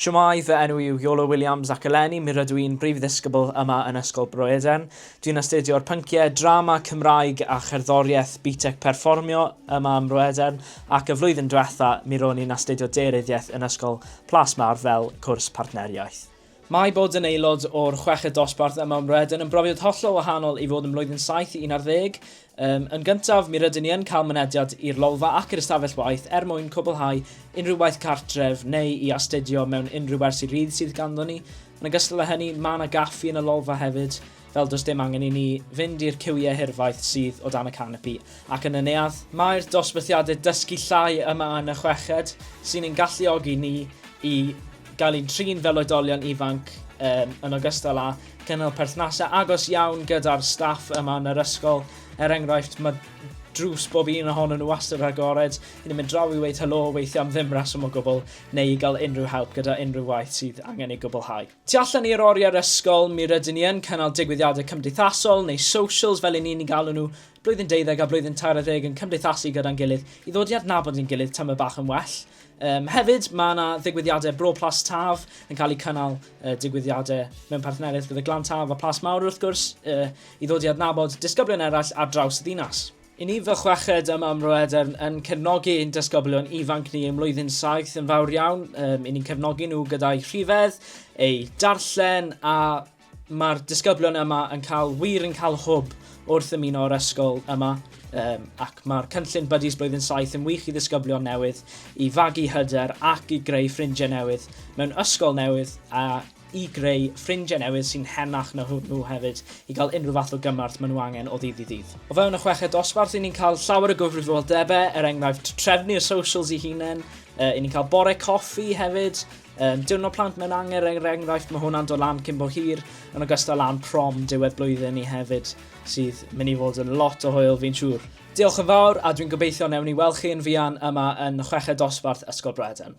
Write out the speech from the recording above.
Shwmae, fy enw i yw Iolo Williams ac eleni mi rydw i'n Brif Ddisgybl yma yn Ysgol Bro Eden. Dwi'n astudio'r pynciau Drama, Cymraeg a Cherddoriaeth BTEC Perfformio yma ym Mro Eden ac y flwyddyn diwetha' mi ro'n i'n astudio Daearyddiaeth yn Ysgol Plas Mawr fel cwrs partneriaeth. Mae bod yn aelod o'r chweched dosbarth yma ym Mhrydain yn brofiad hollol wahanol i fod yn Blwyddyn Saith i Un ar Ddeg. Yym, yn gyntaf, mi rydyn ni yn cael mynediad i'r lolfa ac i'r ystafell waith er mwyn cwblhau unrhyw waith cartref neu i astudio mewn unrhyw wersi rydd sydd ganddo ni. Yn ogystal â hynny, mae 'na gaffi yn y lolfa hefyd. fel does dim angen i ni fynd i'r cywiau hirfaith sydd o dan y canopi ac yn y neuadd. Mae'r dosbarthiadau dysgu llai yma yn y chweched sy'n ein galluogi ni i gael ein trin fel oedolion ifanc um, yn ogystal â cynnal perthnasau agos iawn gyda'r staff yma yn yr ysgol. Er enghraifft, mae drws bob un ohonyn nhw wastad agored, i ni'n mynd draw i weid helo weithiau am ddim reswm o gwbl, neu i gael unrhyw help gyda unrhyw waith sydd angen ei gwblhau. Tu allan i'r oriau'r ysgol, mi rydyn ni yn cynnal digwyddiadau cymdeithasol, neu socials fel 'yn ni'n eu galw nhw, blwyddyn deuddeg a blwyddyn tair ar ddeg yn cymdeithasu gyda'n gilydd i ddod i adnabod ein gilydd tamaid bach yn well. Yym, hefyd, mae yna ddigwyddiadau Bro Plas Taf yn cael eu cynnal, uh, digwyddiadau mewn partneriaeth gyda Glan Taf a Plas Mawr wrth gwrs, uh, i ddod i adnabod disgyblion eraill ar draws y ddinas. I ni fy chweched yma ym Mro Edern yn cefnogi ein dysgoblion ifanc ni ym mlwyddyn saith yn fawr iawn. Um, I ni'n cefnogi nhw gyda'i rhifedd, ei darllen a mae'r disgyblion yma yn cael wir yn cael hwb wrth ymuno o'r ysgol yma um, ac mae'r cynllun Buddies Blwyddyn 7 yn wych i ddisgyblion newydd i fagu hyder ac i greu ffrindiau newydd mewn ysgol newydd a i greu ffrindiau newydd sy'n henach na hwnnw hefyd i gael unrhyw fath o gymorth maen nhw angen o ddydd i ddydd. O fewn y chweched dosbarth, i ni'n cael llawer o gyfrifoldebau, er enghraifft trefnu'r socials i hunain, uh, i ni'n cael bore coffi hefyd, um, diwrnod plant mewn anger, er enghraifft mae hwnna'n dod lan cyn bo hir, yn ogystal lan prom diwedd blwyddyn ni hefyd, sydd mynd i fod yn lot o hwyl fi'n siŵr. Diolch yn fawr a dwi'n gobeithio newn ni weld chi yn fuan yma yn chweched dosbarth Ysgol Bredan.